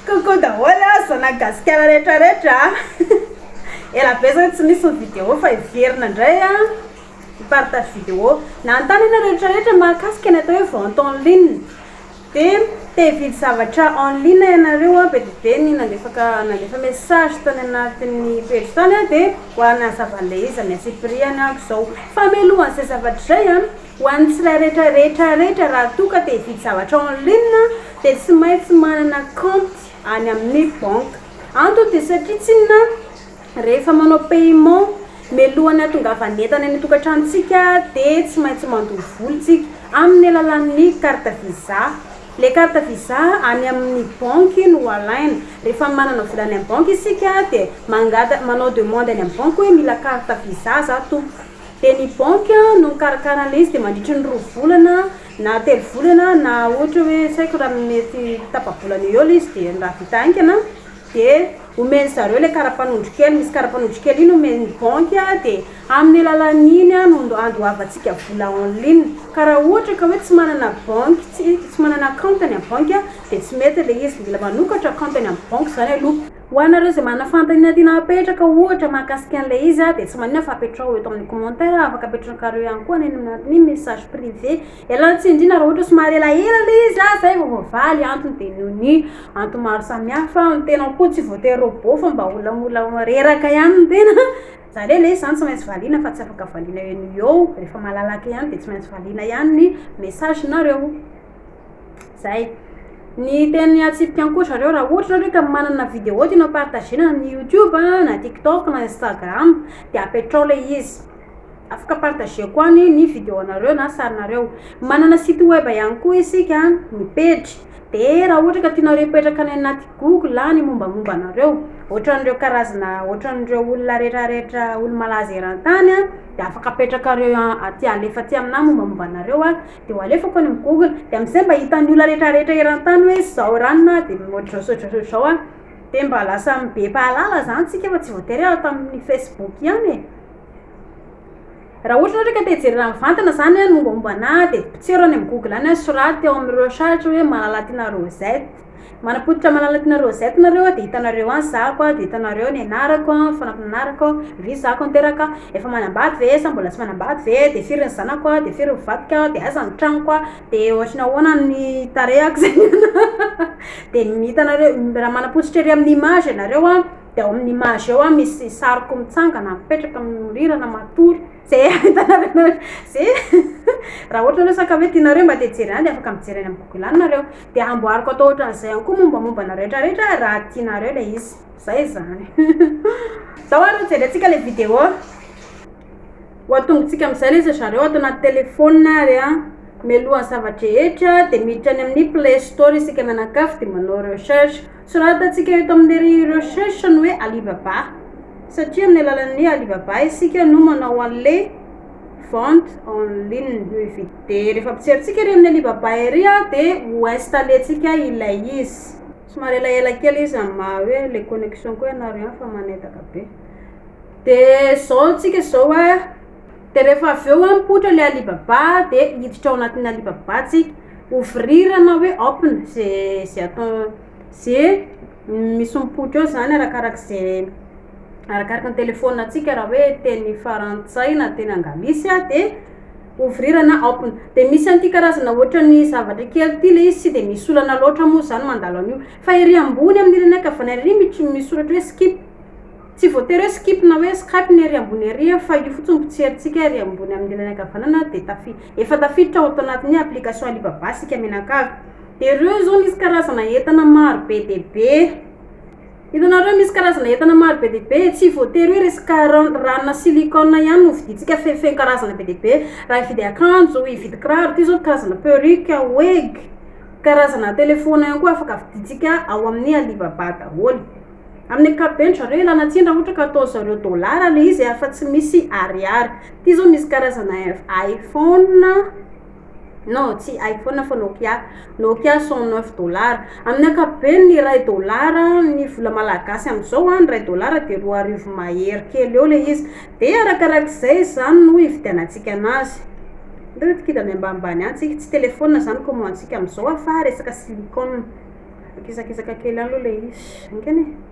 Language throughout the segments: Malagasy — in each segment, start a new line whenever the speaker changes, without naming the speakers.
Coucou daholo a, zana gasikara rehetra rehetra a Ela be zany tsy nisy ny vidéo fa hiverina ndray a Ny partage vidéo Nanontany ianareo rehetra rehetra mahakasika ny atao hoe vente en ligne Dia te hividy zavatra en ligne ianareo a, be dia be ny nandefaka nandefa message tany anatin'ny pejy tany a Dia ho an'ny hazava an'ilay izy, miantsipiriany aho izao Fa mialohan'izay zavatra izay a, Ho an'ny tsirairetra rehetra rehetra raha toa ka te hividy zavatra en ligne dia tsy maintsy manana kaonty any amin'ny banque. Antony dia satria tsy inona rehefa manao paiement mialohan'ny hatongavan'ny entana eny an-tokantranontsika dia tsy maintsy mandoa vola isika amin'ny alalan'ny carte visa. Ilay carte visa any amin'ny banque no alaina. Rehefa manana vola any amin'ny banque isika dia mangata manao demande any amin'ny banque hoe mila carte visa za tompoko. Dia ny banky no mikarakara an'ilay izy dia mandritry ny roa volana na telo volana na ohatra hoe tsy haiko raha mety tapa-bolana eo eo ilay izy dia raha vita haingana dia omen-dry zareo ilay kara-panondro kely, misy kara-panondro kely iny omen'ny banky dia amin'ny alalan'iny no andoavantsika vola en ligne ka raha ohatra ka hoe tsy manana banky tsy tsy manana account any amin'ny banky dia tsy mety ilay izy, mila manokatra account any amin'ny banky izany aloha. Ho anareo izay manana fanontaniana tiana hapetraka ohatra mahakasika an'ilay izy dia tsy maninona fa apetraho eto amin'ny commentaire afaka apetrakareo ihany koa any amin'ny message privé ialana tsindrina raha ohatra somary elaela ilay izy ah zay vao voavaly antony dia noho ny antony maro samihafa ny tenako koa tsy voatery robot fa mba olona mbola reraka ihany ny tena zany hoe ilay izy zany tsy maintsy valiana fa tsy afaka valiana eo no eo rehefa malalaka ihany dia tsy maintsy valiana ihany ny message nareo Zay. Ny teny atsipika any koa zareo raha ohatra nareo ka manana vidéo tianao ho partager-na amin'ny youtube a, na tiktok na instagram de apetrao le izy, afaka partager-ko any ny vidéo-nareo na sarinareo. Manana site web ihany koa isika ny pejy de raha ohatra ka tianareo hipetraka any anaty google a ny mombamomba anareo, ohatran'ireo karazana ohatran'ireo olona retraretra olo-malaza eran-tany a de afaka apetrakareo aty alefa aty aminah ny mombamomba anareo a. Dia ho alefako any amin'ny google. Dia amin'izay mba hitan'ny olona rehetrarehetra eran-tany hoe izao raha ny naha dia ohatr'izao sy ohatr'izao sy ohatr'izao aho. Dia mba lasa be mpahalala izany isika fa tsy voatery ato amin'ny facebook ihany e. Raha ohatra ianao indray ka te hijery raha mivantana izany ny mombamomba anà dia potseho raha any amin'ny google any an, soraty eo amin'ireo sahatr'ireo hoe Malalatina Rosette. Manapototra Malalatina Rosette nareo dia hitanareo any zako dia hitanareo ny anarako fanampina anarako vy zako niteraka efa manambady ve sa mbola tsy manambady ve dia firy ny zanako dia firy ny vadiko dia aiza ny tranoko dia ohatry ny ahoana ny tarehako zay dia hitanareo raha manapototra ery amin'ny image ianareo dia ao amin'ny image ao misy sariko mitsangana mipetraka mihorirana matory Ze hitanareo nareo ze raha ohatra nareo saka hoe tianareo mba te jery any de afaka mijery any am google any nareo de amboariko atao ohatran'izay any koa mombamomba anareo rehetra rehetra raha tianareo le izy zay zany zao ary jerentsika le video ho antongontsika amizay le za zareo ato anaty telefona ary a mialohan'ny zava-drehetra de miditra any amin'ny play store isika mianakavy de manao recherche Soratantsika eto amin'ny recherche ny hoe Alibaba satria amin'ny alalan'ny Alibaba isika no manao an'le vente en ligne de rehefa mpijery ery amin'ny Alibaba ery a de ho installer tsika ilay izy somary elaela kely izy amin'ny maha hoe le connexion koa ianareo any fa manetaka be de zao tsika zao a Dia rehefa avy eo hoe mipoitra ilay Alibaba dia hiditra ao anatin'ny Alibaba tsika, ouvrir na hoe open ze ze atao ze misy mipoitra eo zany arakaraka ze arakaraka ny telefaoninantsika raha hoe teny farantsay na teny anglisy a de ouvrir na open de misy an'ity karazana ohatran'ny zavatra kely ity le izy tsy de misy olana loatra moa zany mandalo an'io fa ery ambony amin'ireny ankavanay ery mitr- misy soratra hoe skip. Tsy voatery hoe skip na hoe skype ny ery ambony ery a, fa io fotsiny mpitserintsika ery ambony amin'ny ilany ankavanana dia tafi, efa tafiditra ao atoanatin'ny application Alibaba sika mianakavy. Dia ireo izao misy karazana entana maro be dia be. Hitanareo misy karazana entana maro be dia be e, tsy voatery hoe resaka ran, ranona silicone ihany no vidintsika fe feno karazana be dia be. Raha hividy akanjo, hividy kiraro, ity izao karazana perruque, wig, karazana telephone ihany koa afaka vidintsika ao amin'ny Alibaba daholo. Amin'ny ankapobeny zareo ilana tsiny raha ohatra ka ataony zareo dollars ilay izy afa tsy misy ariary. Ity izao misy karazana iPhone non tsy iPhone fa Nokia, Nokia cent neuf dollars. Amin'ny ankapobeny ny iray dollars ny vola malagasy amin'izao a ny iray dollars dia roa arivo mahery kely eo ilay izy. Dia arakarak'izay izany no ividianantsika anazy. Hitanao ry kida miambanimbany an! tsy tsy telephone izany kaomantsika amin'izao a fa resaka silicone. Mikizakizaka kely any aloha ilay izy. Engany e!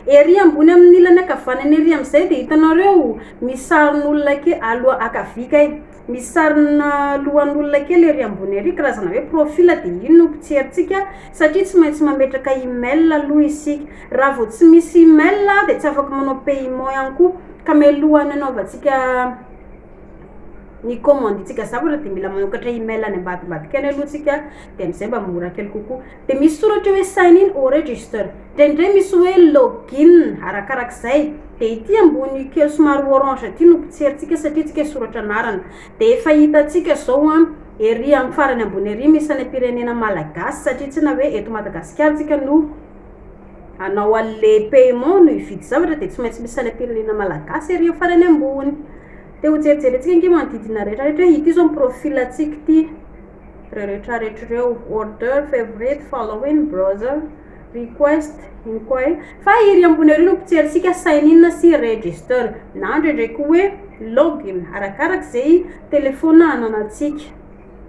Ery ambony amin'ny ilany ankavanana ery amin'izay dia hitanareo misy sarin'olona kely aloha ankavia kay, misy sarina lohan'olona kely ery ambony ery, karazana hoe profil dia iny no mpitserintsika satria tsy maintsy mametraka email aloha isika. Raha vao tsy misy email dia tsy afaka manao paiement ihany koa ka mialohan'ny hanaovantsika. ny commande tsika zavatra de mila manokatra email any ambadimbadika any aloha tsika de amizay mba mora kely kokoa de misy soratra hoe sign in or register ndraindray misy hoe login arakarak'izay de ity ambony kely somary orange ity no pitserintsika satria tsika soratra anarana de efa hitantsika zao an ery amin'ny farany ambony ery misy any am-pirenena malagasy satria tsy na hoe eto madagasikara tsika no anao an'le paiement no hividy zavatra de tsy maintsy misy any am-pirenena malagasy ery amin'ny farany ambony Te ho jerijerentsika ange manodidina rehetrarehetra hoe ity izao ny profil antsika ity ireo rehetrarehetra ireo order favorite following browser request inquiry fa iry ambony iry no pitserintsika sign in sy register na indraindray koa hoe login arakaraka izay telephone ananantsika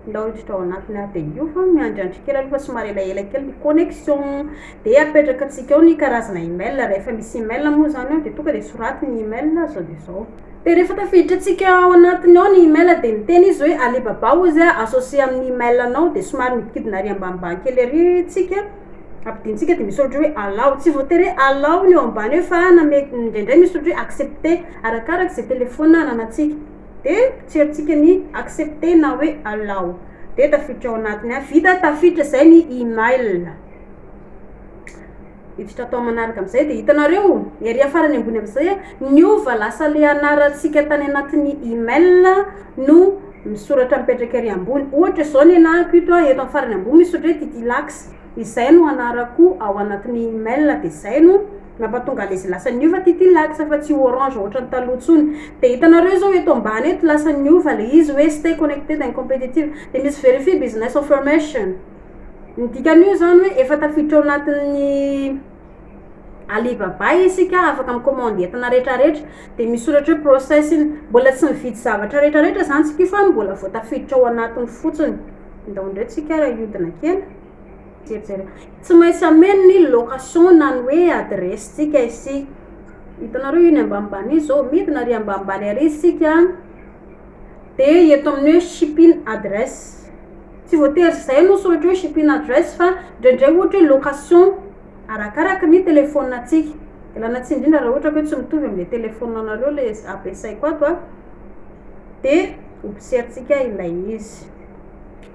Ndao hiditra ao anatiny aho dia io fa miandry andry kely aloha fa somary elaela kely ny connexion dia apetraka antsika ao ny karazana email rehefa misy email moa izany ao dia tonga dia soraty ny email izao dia izao dia rehefa tafiditra antsika ao anatiny ao ny email dia miteny izy hoe alibaba hozy a associer amin'ny email anao dia somary midikidina ary ambanimbany kely ary tsika ampidintsika dia misy ohatra hoe allow tsy voatery hoe allow ny eo ambany eo fa na mety indraindray misy ohatra hoe accepter arakaraka izay telephone ananantsika de pijerijika ny accepter na hoe allow de tafiditra ao anatiny a vita tafiditra zay ny email hiditra atao manaraka amizay de hitanareo ery afarany ambony amizay a niova lasa le anarantsika tany anatiny email no misoratra mipetraka ery ambony ohatra zao ny anahako ito a eto am farany ambony misoratra hoe titilax izay no anarako ao anatiny email de zay no Nampatonga an'izy lasa niova ty ty laksa fa tsy orange ohatran'ny taloha intsony. Dia hitanareo izao eto ambany eto lasa niova ilay izy hoe stay connected and competitive. Dia misy verify business information. Ny dikan'io izany hoe efa tafiditra ao anatin'ny Alibaba isika afaka mi-commande entana rehetrarehetra. Dia misy soratra hoe processing. Mbola tsy mividy zavatra rehetrarehetra izany tsika io fa mbola vao tafiditra ao anatiny fotsiny. Ndao indray tsika hiodina kely. Tsy maintsy ameno ny location na ny hoe adresse tsika isika. Hitanareo iny ambanimbany iny zao, midina ary ambanimbany ary isika de eto amin'ny hoe shipping address, tsy voatery izay no soratra hoe shipping address fa ndraindray ohatra hoe location arakaraka ny telephone antsika, ialana tsiny indrindra raha ohatra ka hoe tsy mitovy amin'le telephone anareo le ampiasaiko ato a, de observe tsika ilay izy.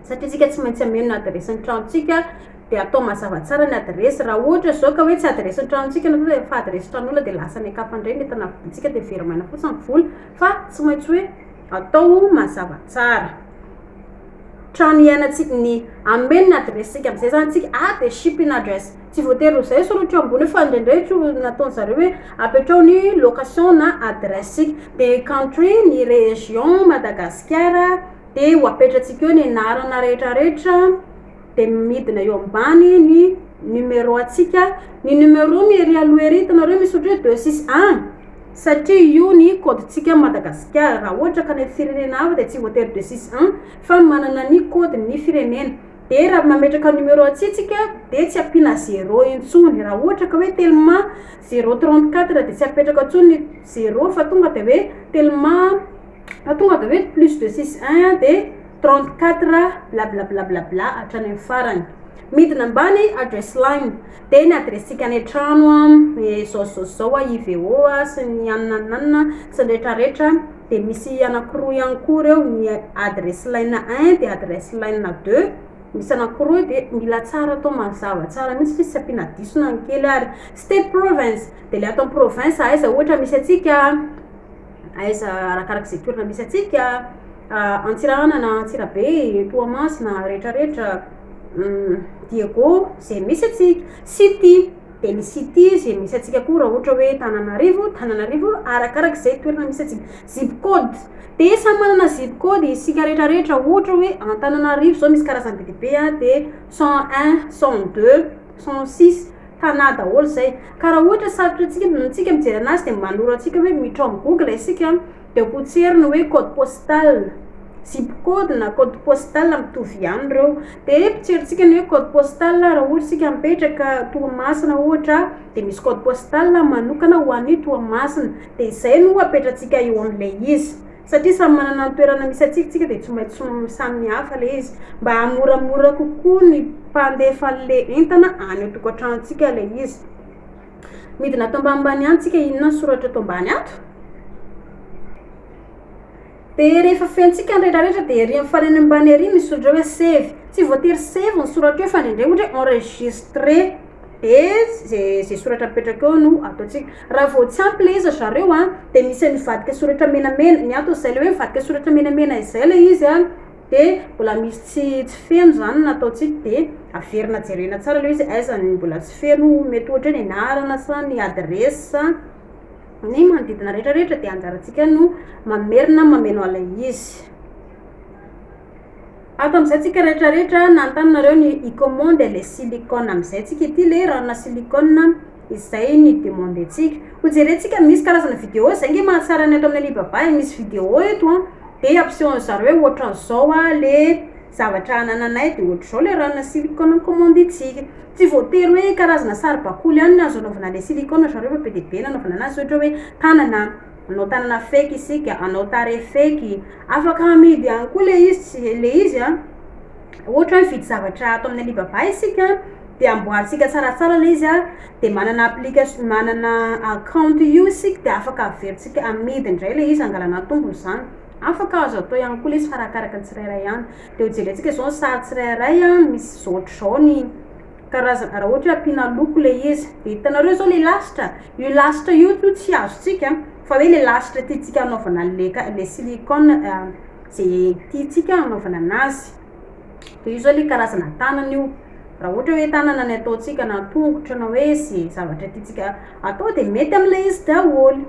satria isika tsy maintsy hameno ny adiresin'ny tranontsika dia atao mazava tsara ny adiresy raha ohatra izao ka hoe tsy adiresin'ny tranontsika na koa efa adiresy tranon'olona dia lasa any an-kafa indray ny entana vidintsika dia very maina fotsiny ny vola fa tsy maintsy hoe atao mazava tsara trano iainantsika ny ameno ny adiresintsika amin'izay izany tsika a ah, dia shipping address tsy voatery ho izay soratra eo ambony fa indraindray tsy nataony zareo hoe apetrao ny location na adiresy tsika dia country ny région madagasikara Dia ho apetratsika eo ny anarana rehetrarehetra dia midina eo ambany ny numéro antsika. Ny numéro no ery aloha ery hitanareo misy ohatry hoe deux six un satria io ny kaodintsika Madagasikara. Raha ohatra ka any amin'ny firenena hafa dia tsy voatery deux six un fa manana ny kaodin'ny firenena. Dia raha mametraka numéro antsika tsika dia tsy ampiana zéro intsony. Raha ohatra ka hoe telma zéro trente quatre dia tsy apetraka intsony ny zéro fa tonga dia hoe telma. Fa tonga de hoe plus de six un de trente quatre blablablablabla hatrany am farany. Midina ambany address line. De ny adressika any an-trano a, ny zao zao zao a, IVO a, sy ny anona anona sy ny retraretra. De misy anakiroa ihany koa reo, ny address line un de address line deux. Misy anakiroa eo de mila tsara atao mazava tsara mihitsy fa izy tsy ampiana diso na ny kely ary. State province de le ato am province aiza ohatra misy antsika a. Aiza arakaraka izay toerana misy antsika, Antsirahana na Antsirabe, Toamasina, retraretra, Diego, izay misy antsika, City, dia ny city izay misy antsika koa raha ohatra hoe Tananarivo, Tananarivo, arakaraka izay toerana misy antsika, Zip code, dia samy manana zip code isika retraretra, ohatra hoe Antananarivo izao misy karazany be dia be dia cent un, cent deux, cent six, Tana daholo izay. Ka raha ohatra sarotra antsika antsika mijery anazy dia manoro antsika hoe miditra ao amin'ny google isika dia potserina hoe code postal, zip code na code postal mitovy ihany ireo. Dia potserintsika ny hoe code postal raha ohatra isika mipetraka Toamasina ohatra dia misy code postal manokana ho an'io Toamasina. Dia izay no apetratsika eo amin'ilay izy. Satria samy manana ny toerana misy antsika isika dia tsy maintsy samy mihafa ilay izy. Mba hahamoramora kokoa ny mpandefa an'ilay entana any an-tokantranontsika ilay izy. Midina ato ambanimbany any tsika inona ny soratra eto ambany ato. Dia rehefa fentsika ny rehetrarehetra dia ery amin'ny farany ambany ery misy soratra hoe save. Tsy voatery save ny soratra eo fa indraindray ohatra hoe enregistrer dia izay izay soratra apetraka eo no ataontsika. Raha vao tsy ampy ilay izy ry zareo an, dia misy an'io vadika soratra menamena, ny antony izay ilay hoe vadika soratra menamena izay ilay izy an, dia mbola misy tsy tsy feno izany ny nataontsika, dia averina jerena tsara ilay hoe izy aiza ny mbola tsy feno, mety ohatra hoe ny anarana sa ny adiresy sa ny manodidina rehetra rehetra dia anjarantsika no mamerina mameno an'ilay izy. Ato amin'izay tsika rehetra rehetra nanontany nareo ny i comment dia ilay silicone amin'izay tsika ity ilay ranona silicone. Izay ny demande ntsika. Ho jerentsika misy karazana video zay nge mahatsara ny ato amin'ny Alibaba e, misy video eto an, de ampiseho an'zareo hoe ohatran'izao an le zavatra anananay de ohatr'izao le ranona silicone nikomandiantsika. Tsy voatery hoe karazana saribakoly ihany no azo anaovana le silicone ry zareo fa be dia be ny anaovana anazy ohatra hoe tanana, manao tanana fake isika, hanao tarehy fake, afaka hamidy ihany koa le izy tsy le izy an, ohatra hoe mividy zavatra ato amin'ny Alibaba isika. de amboarintsika tsaratsara le izy an, de manana application manana account io isika de afaka averintsika amidy indray le izy angalana tombony zany, afaka azo atao ihany koa le izy fa arakaraka ny tsirairay any, de hojerentsika zao ny sary tsirairay an misy zao hatrizao ny karazana raha ohatra hoe ampiana loko le izy, de hitanareo zao le lasitra, io lasitra io to tsy azontsika an, fa hoe le lasitra tiantsika hanaovana anle ka- le silicone ze tiantsika hanaovana anazy. Dia io izao ilay karazana tanana io. Raha ohatra hoe tanana ny ataontsika na tongotra na hoe izay zavatra tiantsika atao dia mety amin'ilay izy daholo.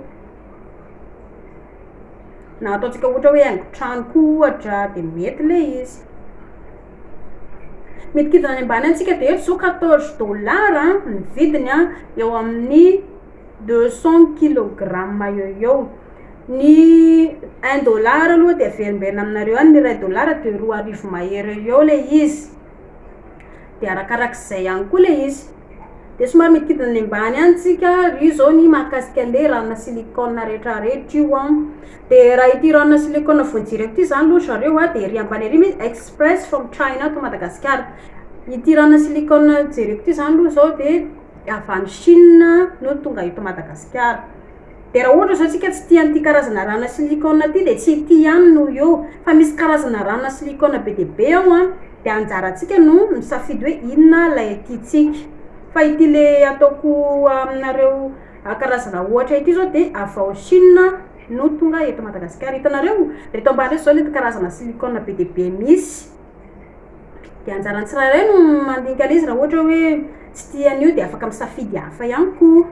Na ataontsika ohatra hoe haingon-trano koa ohatra dia mety ilay izy. Midikidina any ambany antsika dia eto izao quatorze dollars ny vidiny eo amin'ny deux cent kilogrammes eo ho eo. Ny un dollar aloha dia averimberina aminareo any ny iray dollar dia roa arivo mahery eo eo ilay izy dia arakarak'izay ihany koa ilay izy dia somary mikidina any ambany any tsika ary io zao ny mahakasika an'le ranona silicone retraretra io an de raha ity ranona silicone vao jereko ity zany aloha ry zareo an dia ery ambany ery misy express from china to Madagascar ity ranona silicone jereko ity zany aloha zao dia avy any chine no tonga eto Madagasikara Dia raha ohatra izao isika tsy tia an'ity karazana rana silicone ity dia tsy ity ihany no eo fa misy karazana rana silicone be dia be ao an! dia anjarantsika no misafidy hoe inona ilay tiantsika fa ity le ataoko aminareo karazana ohatra ity izao dia avy ao Chine no tonga eto Madagasikara, hitanareo? reto ambany reto izao ireto karazana silicone be dia be misy dia anjaran'ny tsirairay no mandinika an'izy raha ohatra hoe tsy tia an'io dia afaka misafidy hafa ihany koa.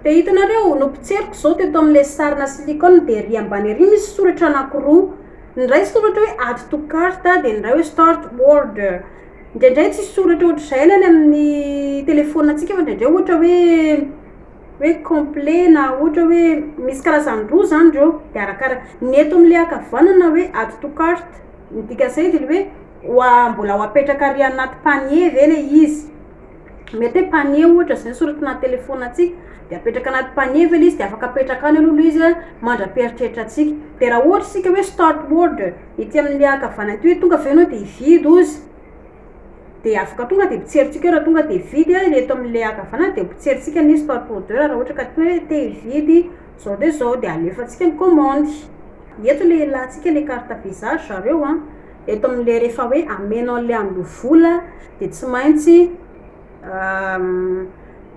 Dia hitanareo, nopotseriko izao teto amin'ilay sarina silicone dia ery ambany ery misy soratra anankiroa. Ny iray soratra hoe add to cart dia ny iray hoe start order. Indraindray tsy soratra ohatr'izay ny any amin'ny telefaoninantsika fa indraindray ohatra hoe hoe complet na ohatra hoe misy karazany roa izany ireo. Dia arakara- ny eto amin'ilay ankavanana hoe add to cart, ny dikan'izay dia ny hoe ho a- mbola ho apetraka ary anaty panier ve ilay izy. Mety hoe panier ohatra zay soratina telephone antsika de apetraka anaty panier ve le izy de afaka apetraka any aloha le izy mandra-pieritreritra antsika de raha ohatra isika hoe start word ety amle ankavana ety hoe tonga ve enao de hividy ozy de afaka tonga de potserintsika eo raha tonga de hividy a le eto amle ankavana de potserintsika ny start word eo raha ohatra ka te hoe te hividy zao de zao de alefantsika ny commande eto le ilantsika le carte visa ry zareo a. Eto amin'ilay rehefa hoe ameno an'ilay andoha vola dia tsy maintsy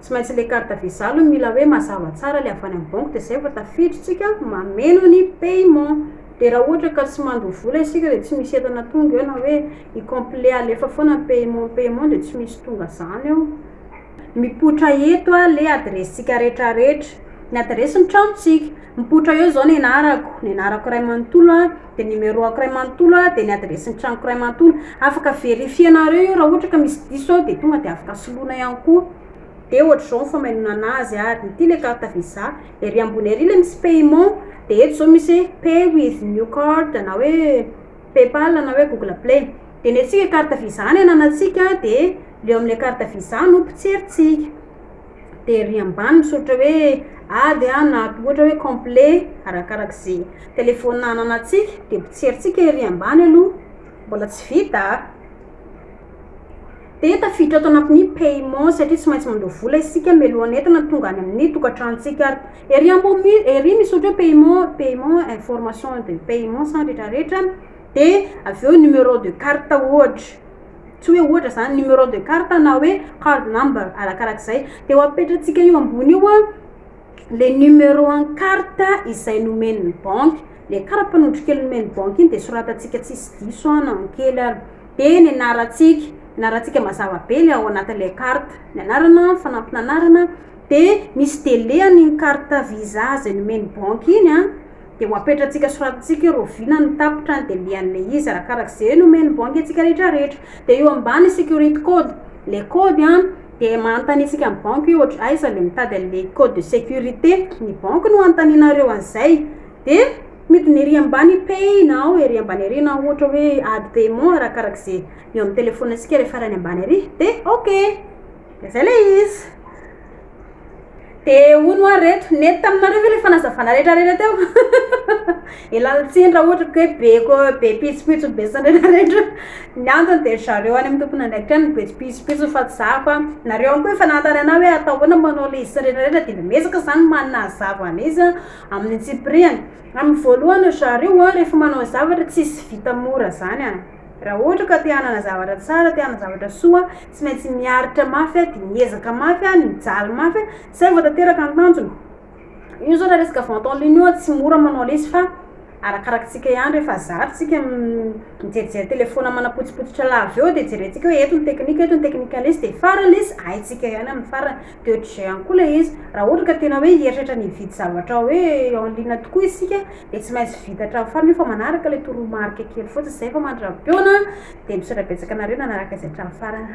tsy maintsy ilay carte visa aloha no mila hoe mazava tsara ilay avy any amin'ny banky dia izay vao tafidintsika mameno ny paiement dia raha ohatra ka tsy mandoa vola isika dia tsy misy entana tonga eo na hoe i complet alefa foana ny paiement paiement dia tsy misy tonga izany eo mipoitra eto ilay adiresintsika retraretra ny adiresin'ny tranontsika mipoitra eo izao ny anarako ny anarako iray manontolo a dia numéro ako iray manontolo a dia ny adiresin'ny tranoko iray manontolo afaka verifienareo io raha ohatra ka misy diso aho dia tonga dia afaka soloina ihany koa dia ohatr'izao ny famainonana azy ary ity ilay carte visa ery ambony ery ilay misy paiement dia eto izao misy hoe pay with new card na hoe paypal na hoe google play dia ny antsika carte visa no ananantsika dia leo amin'ilay carte visa no potserintsika de ery ambany misoritra hoe ady a na ohatra hoe complet arakaraka ze telephone ananatsika de potserintsika ery ambany aloha mbola tsy vita a de tafiditra ato anatin'ny paiement satria tsy maintsy mandoa vola isika mialohan'ny entana tonga any amin'ny tokantranontsika ary ery ambony ery misoritra hoe paiement paiement information de paiement sa retraretra de avy eo numéro de carte ohatra tsy hoe ohatra izany numéro de carte na hoe card number arakarak'izay dia ho apetratsika io ambony io a le numéro en carte izay nomen'ny banky le karapanondro kely nomen'ny banky iny dia soratantsika tsisy diso an na kely ary dia ny anarantsika ny anarantsika mazava be le ao anatin'le carte ny anarana fanampin'anarana dia misy delé an'iny carte visa izay nomen'ny banky iny a Dia ho apetratsika soratintsika eo Rovina ny tapitra andembihan le izy arakaraky ze nomen'ny banky antsika rehetra rehetra Dia eo ambany security code le kody an Dia mahantanintsika ny banky hoe ohatry aiza le mitady an le code de securite Ny banky no anontaninareo an zay Dia midina ery ambany pay now ery ambany ery na ohatra hoe add paiement arakaraky ze eo amin'ny telephone antsika re farany ambany ery Dia ok Dia zay le izy. De hono hoa reto, nety taminareo ve le fanazavana rehetra rehetra teo? e lalin-tsiny raha ohatra ka hoe be ko- be pitsopitso ny betsany rehetra rehetra. Ny antony dia ry zareo any amin'ny tompon'andraikitra any no be pitsopitso fa tsy za fa nareo ihany koa efa nanontany anah hoe atao ahoana ny manao ilay izy sy ny rehetra rehetra dia mba miezaka izany manazava anay izy an! amin'ny antsipiriany. Amin'ny voalohany ry zareo an, rehefa manao zavatra tsy vita mora izany an! Raha ohatra ka te hanana zavatra tsara, te hanana zavatra soa, tsy maintsy miaritra mafy, dia miezaka mafy, mijaly mafy, izay vao tanteraka ny tanjona. Io zao raha resaka vente en ligne io an, tsy mora manao lesy fa arakarak'tsika ihany, rehefa zary tsika mijerijery telephone manapotsipotsitra lava eo, dia jerentsika hoe eto ny teknika, eto ny teknikan'ny lesy, dia farany lesy haintsika ihany amin'ny farany. De ohatrizay ihany koa ilay izy, raha ohatra ka tena hoe hieritreritra ny hividy zavatra hoe en ligne tokoa isika dia tsy maintsy vita hatramin'ny farany io fa manaraka ilay toromarika kely fotsiny izay fa mandra-pihaona dia misaotra betsaka anareo nanaraka izay hatramin'ny farany.